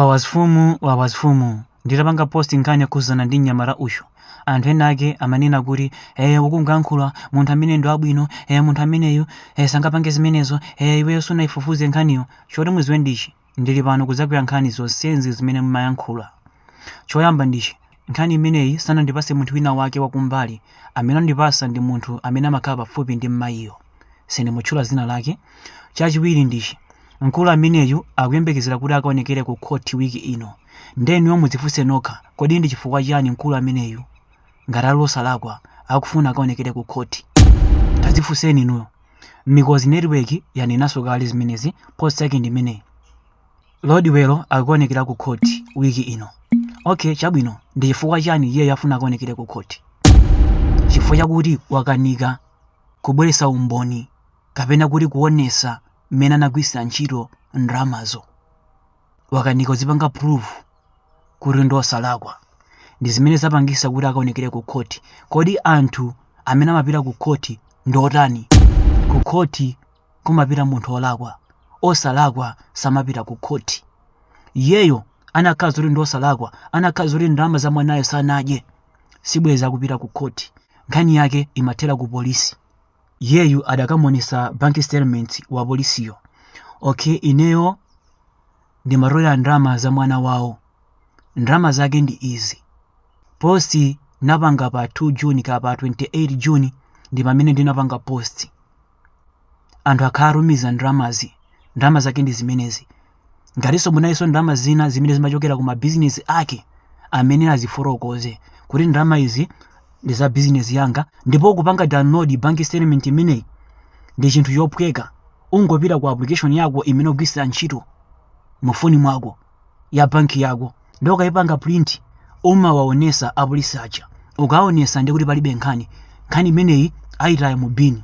Wawazfumu wawazfumu nditapanga post nkhani yokhuzana ndi mnyamata uyu anthu ena ake amanena kuti ee ukungoyankhula munthu ameneyi ndi wabwino ee munthu ameneyu ee sangapange zimenezo ee iweyo sunaifufuze nkhaniyo choti muziwe ndichi ndili pano kudzakuyankhani zonsenzi zimene mumayankhula choyamba ndichi Nkhani imeneyi sanandipatse munthu wina wake wakumbali, amene andipatsa ndi munthu amene amakhala pafupi ndi m'mayiyo. Sindimutchula dzina lake. Chachiwiri ndichi, mkulu ameneyu akuyembekezera kuti akaonekere ku khothi wiki ino. Nde inuyo mudzifunse nokha, kodi ndi chifukwa chani mkulu ameneyu, ngati ali osalakwa, akufuna akaonekere ku khothi? Tadzifunseni inuyo. Mikozi Network yanenanso kale zimenezi, post yake ndi imeneyi. Rodwell akuonekera ku khoti wiki ino. Okay, chabwino. Ndi chifukwa chani iyeyo afuna akaonekere ku khoti? Chifukwa chakuti wakanika kubweretsa umboni kapena kuti kuonesa mmene anagwiritsira ntchito ndalamazo. Wakanika kuzipanga prove kuti ndi osalakwa. Ndi zimene zapangisa kuti akaonekere ku khoti. Kodi anthu amene amapita ku khoti ndi otani? Ku khoti kumapita munthu olakwa osalakwa samapita ku khoti iyeyo anakhala zoti ndi osalakwa anakhala zoti ndalama za mwanayo sanadye sibwezi akupita ku khoti nkhani yake imathera ku polisi iyeyu adakamonesa bank statement wa polisiyo okay ineyo ndimatolera ndalama za mwana wawo ndalama zake ndi izi post napanga pa 2 juni kapena 28 juni ndi pamene ndinapanga post anthu akhala akutumiza ndalamazi ndalama zake ndi zimenezi ngatinso munalinso ndalama zina zimene zimachokera ku mabizinesi ake amene azifotokoze kuti ndalama izi ndi za bizinesi yanga ndipo kupanga download bank statement imeneyi ndi chinthu chophweka ungopita ku application yako imene ugwiritsa ntchito mu foni mwako ya banki yako nde ukaipanga print umawaonesa apolisi aja ukaonesa ndi kuti palibe nkhani nkhani imeneyi ayitaya mu bini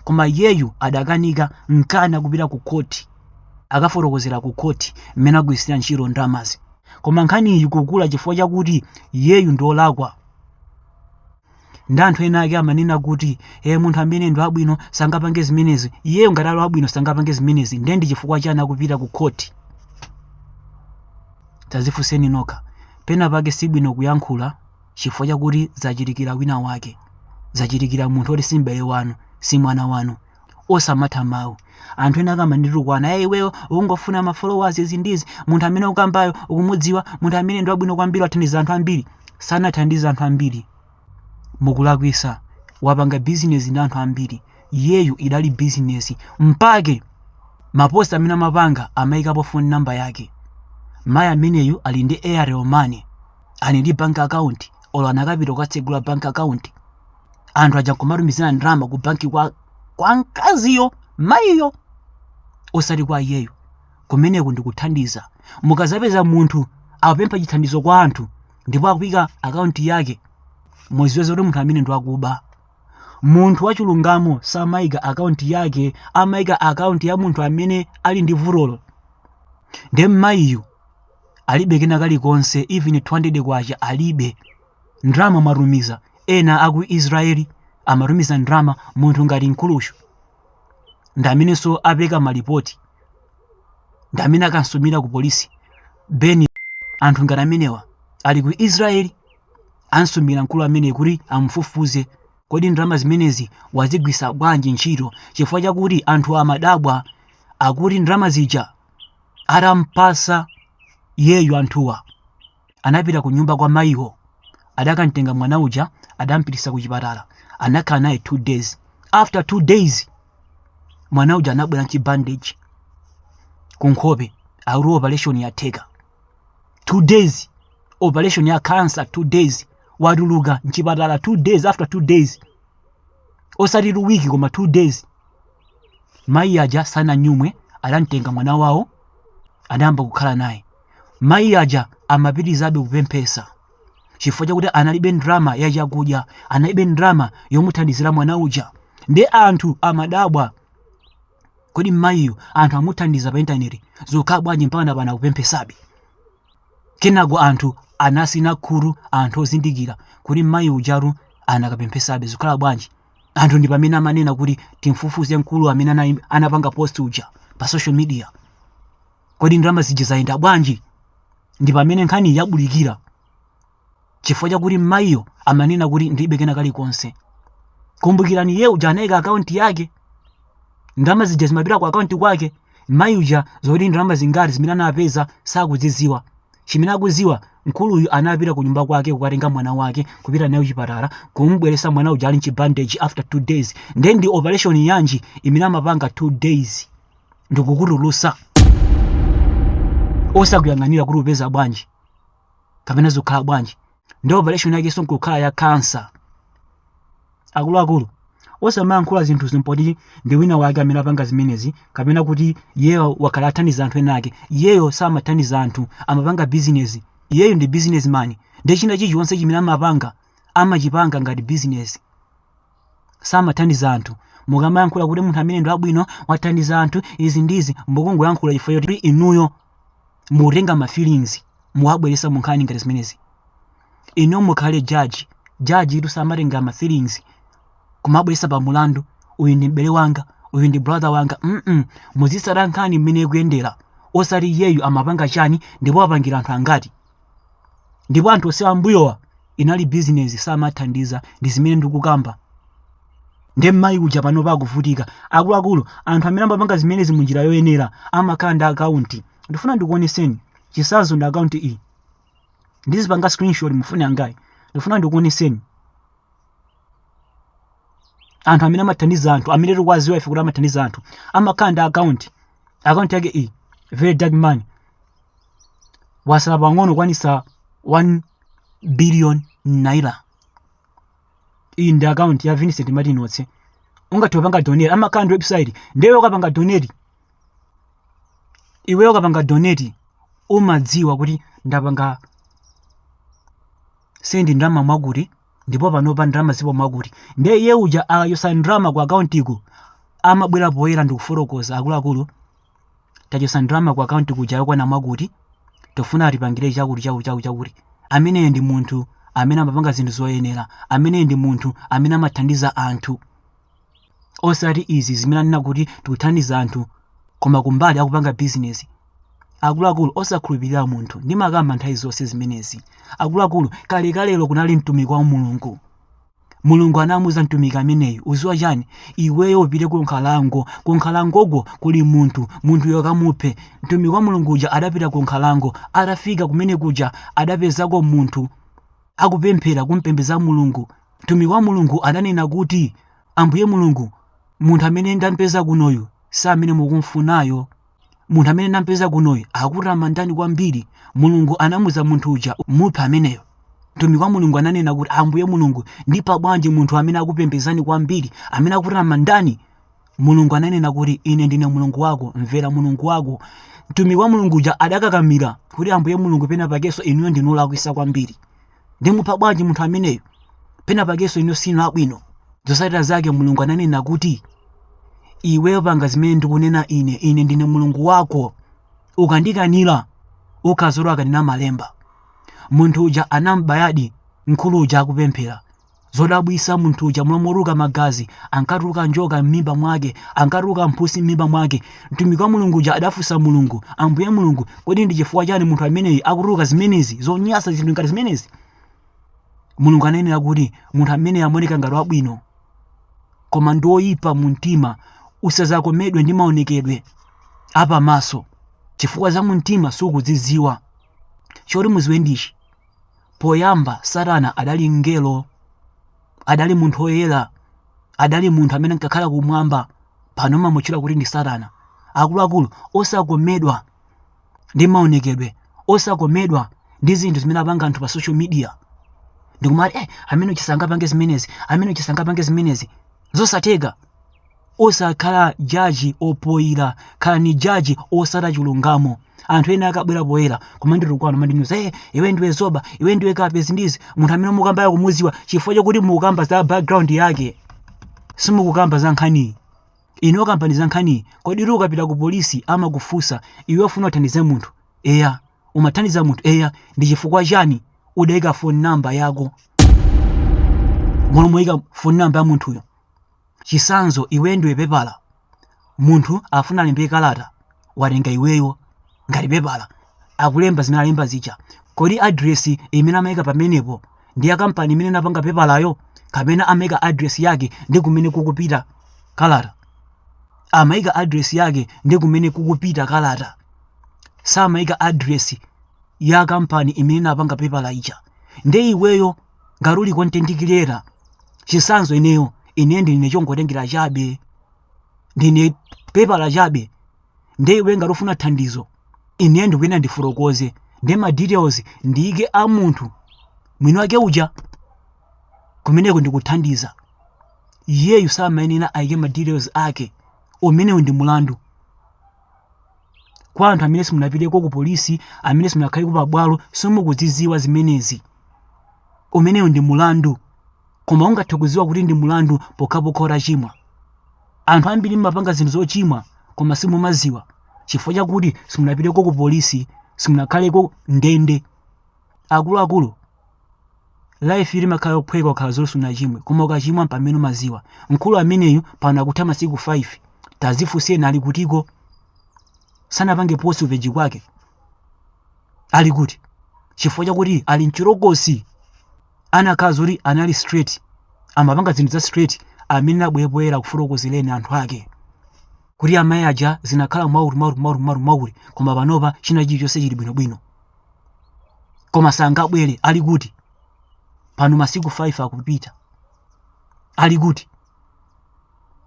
koma iyeyu adakanika nchake akupita ku khoti akafotokozera ku khoti mmene agwiritsira ntchito ndalamazi koma nkhaniyi ikukula chifukwa chakuti iyeyu ndiolakwa nde anthu ena ake amanena kuti e, munthu amene ndi wabwino sangapange zimenezi iyeyo ngati ali wabwino sangapange zimenezi ndiye ndi chifukwa chani akupita ku khoti tazifunseni nokha pena pake sibwino kuyankhula chifukwa chakuti zachitikira wina wake zachitikira munthu oti si m'bale wanu si mwana wanu osamatha mawu anthu ena akamanditukwana ya iweyo ukungofuna ma followers izi ndizi munthu amene ukambayo ukumudziwa munthu amene ndi wabwino kwambiri wathandiza anthu ambiri sanathandiza anthu ambiri mukulakwisa wapanga bizinesi ndi anthu ambiri iyeyu idali bizinesi mpake mapost amene amapanga amayikapo phone number yake mayi ameneyu ali ndi airtel money ali ndi bank account olo anakapita kukatsegula bank account anthu aja nkumatumizira ndalama ku banki kwa mkaziyo mayiyo osati kwa iyeyo kumeneku ndikuthandiza mukazapeza munthu akupempha chithandizo kwa anthu ndipo akuyika akaunti yake muziwe kuti munthu amene ndiwakuba munthu wachilungamo samayika akaunti yake amayika akaunti ya munthu amene ali ndi vutolo nde mmayiyu alibe kena kalikonse even 200 kwacha alibe ndalama mwatumiza ena aku israel amatumiza ndalama munthu ngati mkuluyu ndamenenso apereka malipoti ndamene akansumira ku polisi penu anthu ngati amenewa ali ku israel ansumira mkulu amene kuti amufufuze kodi ndalama zimenezi wazigwiritsa bwanji ntchito chifukwa chakuti anthu amadabwa akuti ndalama zija atampasa iyeyo anthuwa anapita ku nyumba kwa mayiwo adakamtenga mwana uja adampititsa ku chipatala anakhala naye two days after two days mwana uja anabwera nchibandage ku nkhope akuti operation yatheka two days operation ya cancer two days watuluka nchipatala two days after two days osati two week koma two days mayi aja sananyumwe adamtenga mwana wawo adayamba kukhala naye Mayi aja amapitirizabe kupemphetsa chifukwa chakuti analibe ndalama ya chakudya, analibe ndalama yomuthandizira mwana uja. Ndiye anthu amadabwa, kodi mayiyu anthu amuthandiza pa intaneti zokhala bwanji mpaka pano akupemphetsabe? Kenako anthu anasina khutu, anthu ozindikira kuti mayi ujatu anakapemphetsabe zokhala bwanji. Anthu ndi pamene amanena kuti timfufuze mkulu amene anapanga post uja pa social media. kodi ndalama zija zayenda bwanji ndi pamene nkhani yabulikira chifukwa chakuti mmayiyo amanena kuti ndilibe kena kalikonse kumbukirani iye uja anayika akaunti yake ndalama zija zimapita ku akaunti kwake mmayi uja zoti ndalama zingati zimene anapeza sakuzidziwa chimene akudziwa mkuluyu anapita ku nyumba kwake kukatenga mwana wake kupita naye kuchipatala kumubweresa mwana uja ali mchibandeji after two days nde ndi operation yanji imene amapanga two days nkukutulusa osakuyang'anira kuti upeza bwanji kapena zikukhala bwanji ndi operation yakenso nkukhala ya kansa akuluakulu osamayankhula zinthu zimpoti ndi wina wake amene apanga zimenezi kapena kuti iyeyo wakhala athandiza anthu ena ake iyeyo samathandiza anthu amapanga bizinesi iyeyo ndi bizinesmani ndi china chilichonse chimene amapanga amachipanga ngati bizinesi samathandiza anthu mukamayankhula kuti munthu ameneyu ndi wabwino wathandiza anthu izi ndizi mukungoyankhula chifukwa choti inuyo mukutenga ma feelings muwabweresa mu nkhani ngati zimenezi inu mukhale judge judge tu samatenga ma feelings kumabweresa pa mulandu uyu ndi m'bale wanga uyu ndi brother wanga mm muzisata nkhani mmene ikuyendera osati iyeyu amapanga chani ndipo apangira anthu angati ndipo anthu onse ambuyowa inali bizinezi samathandiza ndi zimene ndikukamba nde mmayi uja panopa akuvutika akuluakulu anthu amene amapanga zimenezi mu njira yoyenera amakhala ndi akaunti ndifuna ndikuoneseni chisazo ndi akaunti iyi ndizipanga screenshot mufune kangati ndifuna ndikuoneseni anthu amene amathandiza anthu amene tikuwaziwa ife kuti amathandiza anthu amakhala ndi akaunti akaunti yake iyi very dark man wasala pang'ono kukwanisa 1 billion naira iyi ndi akaunti ya vincent martin otse ungathe kupanga donate amakhala ndi website ndiye ukapanga donate iweyo ukapanga donate umadziwa kuti ndapanga sendi ndalama mwakuti ndipo panopa ndalama zipo mwakuti ndiye iye uja akachotsa ndalama ku akauntiko amabwera poyera ndikufotokoza akuluakulu tachosa ndalama ku akaunti kuja yokwana mwakuti tofuna tipangire chakuti chakuti chakuti chakuti ameneyo ndi munthu amene amapanga zinthu zoyenera ameneyo ndi munthu amene amathandiza anthu osati izi zimene anena kuti tikuthandiza anthu koma kumbali akupanga bizinesi akuluakulu osakhulupirira munthu ndimakamba nthawi zonse zimenezi akuluakulu kalekalelo kunali mtumiki wa mulungu mulungu anamuuza mtumiki ameneyu uziwa chani iweyo upite ku nkhalango ku nkhalangoko kuli munthu munthuyo kamuphe mtumiki wa mulungu uja adapita ku nkhalango atafika kumene kuja adapezako munthu akupemphera kumpembeza mulungu mtumiki wa mulungu adanena kuti ambuye mulungu munthu amene ndampeza kunoyu si amene mukumfunayo munthu amene nampeza kunoyu akutamandani kwambiri mulungu anamuza munthu uja muphe ameneyo mtumiki wa mulungu ananena kuti ambuye mulungu ndipa bwanji munthu amene akupembezani kwambiri amene akutamandani mulungu ananena kuti ine ndine mulungu wako mvera mulungu wako mtumiki wa mulungu uja adakakamira kuti ambuye mulungu pena pakeso inuyo ndinu olakwisa kwambiri ndimupha bwanji munthu ameneyu pena pakenso ino si yabwino zotsatira zake mulungu ananena kuti iweyo panga zimene ndikunena ine ine ndine mulungu wako ukandikanira ukadzaona akanena malemba munthu uja anambayadi mkulu uja akupemphera Zodabwitsa munthu uja m'malo motuluka magazi, ankatuluka njoka m'mimba mwake, ankatuluka mphusi m'mimba mwake. Mtumiki wa Mulungu uja adafunsa Mulungu, Ambuye Mulungu, kodi ndi chifukwa chani munthu ameneyi akutuluka zimenezi, zonyasa zinthu ngati zimenezi? Mulungu ananena kuti munthu ameneyi amaoneka ngati wabwino, koma ndi oyipa mu mtima. Usadzakomedwe ndi maonekedwe apamaso chifukwa za mu mtima sukuzidziwa. Choti mudziwe ndichi, Poyamba Satana adali mngelo, adali munthu oyera, adali munthu amene ankakhala kumwamba, pano amamutchula kuti ndi Satana. Akuluakulu osakomedwa ndi maonekedwe, osakomedwa ndi zinthu zimene apanga anthu pa social media. Ndikumati eh, ameneyu sangapange zimenezi, ameneyu sangapange zimenezi, zosatheka. Osakhala judge opoira, khalani judge otsata chulungamo. Anthu ena akabwera poyera kumanditukwana kumandinyoza hey, iwe ndiwe dzoba, iwe ndiwe kape zindizi, munthu amene mukamba mwakumudziwa chifukwa chokuti mukukamba za background yake. Simukukamba za nkhaniyi. Inu kambani za nkhaniyi, kodi iwe ukapita ku polisi amakufunsa iwe ufuna uthandize munthu? Eya, umathandiza munthu? Eya, ndi chifukwa chani udaika phone number yako? M'malo moika phone number ya munthuyo. Chisanzo iweyo ndiwe pepala munthu afuna alembe kalata watenga iweyo ngati pepala akulemba zimene alemba zija kodi address imene amayika pamenepo ndi ya kampani imene inapanga pepalayo kapena amayika address yake ndi kumene kukupita kalata amayika address yake ndi kumene kukupita kalata samayika address ya kampani imene inapanga pepala ija nde iweyo ngati uli content creator chisanzo ineyo ine ndine chongotengera chabe ndine pepala chabe nde iwe ngati ufuna thandizo ine ndikuyenda ndifotokoze ndi ma details ndiyike a munthu mwini wake uja kumeneko ndikuthandiza iyeyu samayenera ayike ma details ake umenewu ndi mulandu kwa anthu amene simunapiteko ku polisi amene simunakhaleko pa bwalo simukuzidziwa zimenezi umenewu ndi mulandu koma ungathe kudziwa kuti ndi mulandu pokhapokha utachimwa anthu ambiri mmapanga zinthu zochimwa koma simumadziwa chifukwa chakuti simunapiteko ku polisi simunakhaleko ndende akuluakulu life limakhala yophweka ukakhala zoti sunachimwe koma ukachimwa mpamene umaziwa mkulu ameneyu pano akutha masiku 5 tazifunseni ali kutiko sanapange post ku page kwake ali kuti chifukwa chakuti ali mchirokosi anakhala zoti anali straight amapanga zinthu za straight amene abwera kufotokozereni anthu ake kuti amayi aja zinakhala mwauri mwauri mwauri mwauri mwauri koma panopa china chilichonse chili bwinobwino koma sangabwere ali kuti pano masiku 5 akupita ali kuti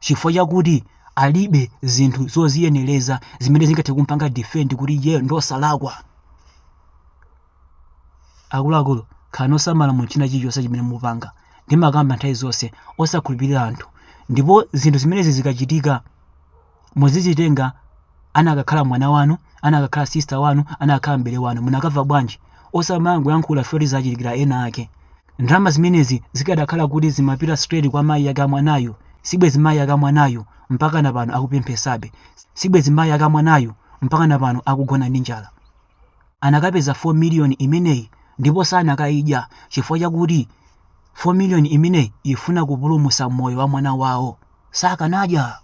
chifukwa chakuti alibe zinthu zoziyenereza zimene zingathe kumpanga defend kuti iye ndosalakwa akuluakulu khalani osamala mu china chilichonse chimene mupanga ndimakamba nthawi zonse osakhulupirira anthu ndipo zinthu zimenezi zikachitika Muzizitenga anakakhala mwana wanu, anakakhala sister wanu, anakakhala m'bale wanu munakamva bwanji? Osamangoyankhula poti zachitikila ena ake. Ndalama zimenezi zikadakhala kuti zimapita straight kwa mayi ake amwanayu sibwezi mayi ake amwanayu mpaka na pano akupemphesabe, sibwezi mayi ake amwanayu mpaka na pano akugona ndi njala. anakapeza 4 million imeneyi ndipo sanakaidya chifukwa chakuti 4 million imeneyi ifuna kupulumusa moyo wa mwana wawo sakanadya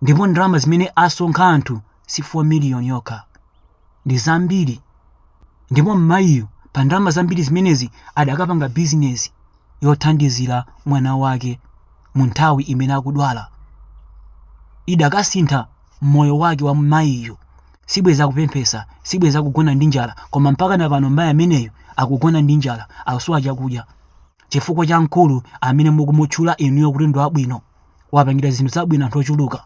ndipo ndalama zimene asonkha anthu si 4 million yokha ndi zambiri ndipo mmayiyu pa ndalama zambiri zimenezi adakapanga bizinesi yothandizira mwana wake mu nthawi imene akudwala idakasintha moyo wake wa mmayiyo sibwezi akupemphesa sibwezi akugona ndi njala koma mpaka na pano mayi ameneyo akugona ndi njala akusowa chakudya chifukwa cha mkulu amene mukumutchula inuyo kuti ndi wabwino wapangira zinthu zabwino anthu ochuluka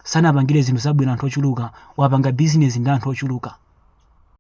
sanapangire zinthu zabwino anthu ochuluka wapanga bizinesi ndi anthu ochuluka